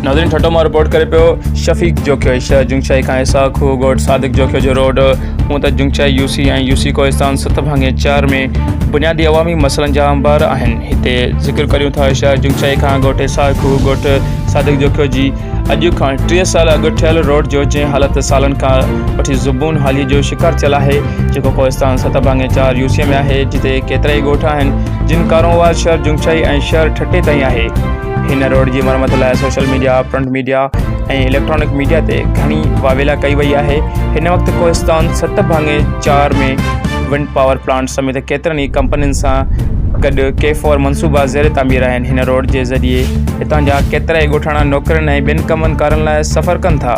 ناظرين ٺٽو مان رپورٽ ڪري پيو شفيق جوکيو شهر جنگشاهي کان حصا کوهه ڳوٺ صادق جوکيو جو روڊ هون ته Jungshahi U C ۽ U C Kohistan ست ڀاڱي چار ۾ بنيادي عوامي مسئلن جا انبار آهن هتي ذڪر ڪريون ٿا شهر جنگشاهي کان ڳوٺ حصا کوهه ڳوٺ صادق جوکيو جي اڄ کان ٽيهه سال اڳ ٺهيل روڊ جو جنهن حالت سالن کان وٺي زبون حاليء جو شڪار ٿيل آهي، جيڪو ڪوهستان ست ڀاڱي چار يوسيء ۾ آهي، جتي ڪيترائي ڳوٺ آهن، جن ڪارونوار شهر جنگشائي ۽ شهر ٺٽي تائين آهي. هن روڊ جي مرمت لاء social media, print media ۽ electronic media تي گهڻي واويلا ڪئي وئي آهي. هن وقت ڪوهستان ست ڀاڱي چار ۾ ونڊ پاور پلانٽ سميت ڪيترن ئي ڪمپنين سان گڏ ڪي فور منصوبا زير تعمير آهن، هن روڊ جي ذريعي هتان جا ڪيترائي ڳوٺاڻا نوڪرين ۽ ٻين ڪمن ڪارن لاء سفر ڪن ٿا،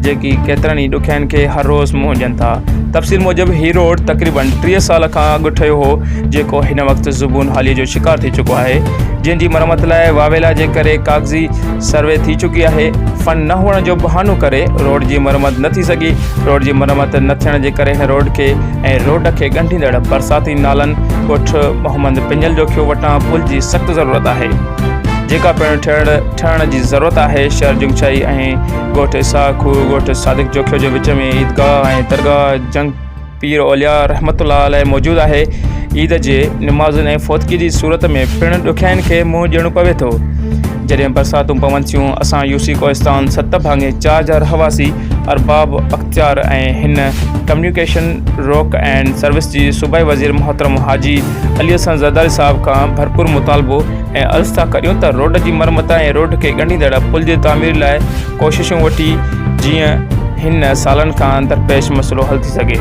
جيڪي ڪيترن ئي ڏکيائين کي هر روز منهن ڏين ٿا. تفصيل موجب هي روڊ تقريبن ٽيهه سال کان اڳ ٺهيو هو، جيڪو هن وقت زبون حاليء جو شڪار ٿي چڪو آهي، جنهن جي مرمت لاء واويلا جي ڪري ڪاغذي سروي ٿي چڪي آهي، فنڊ نه هئڻ جو بهانو ڪري روڊ جي مرمت نه ٿي سگهي، روڊ جي مرمت نه ٿيڻ جي ڪري هن روڊ کي ۽ روڊ کي ڳنڍيندڙ برساتي نالن ڳوٺ محمد پڃل جوکيو وٽان پل جي سخت ضرورت آهي جيڪا پڻ ٺهڻ جي ضرورت آهي شهر جنگشاهي ۽ ڳوٺ اسحاق کوهه ڳوٺ صادق جوکيو جي وچ ۾ عيدگاهه ۽ درگاهه جنگ پير اولياء رحمت الله عليه موجود آهي عيد جي نمازن ۽ فوتگي جي صورت ۾ پڻ ڏکيائين کي منهن ڏيڻو پوي ٿو جڏهن برساتون پون ٿيون اسان يوسي ڪوهستان ست ڀاڱي چار جا رهواسي ارباب اختيار ۽ هن ڪميونيڪيشن، روڪ اينڊ سروس جي صوبائي وزير محترم حاجي علي حسن زرداري صاحب کان ڀرپور مطالبو ۽ عرض ٿا ڪريون ته روڊ جي مرمت ۽ روڊ کي ڳنڍيندڙ پل جي تعمير لاء ڪوششون وٺي جيئن هن سالن کان درپيش مسئلو حل ٿي سگهي.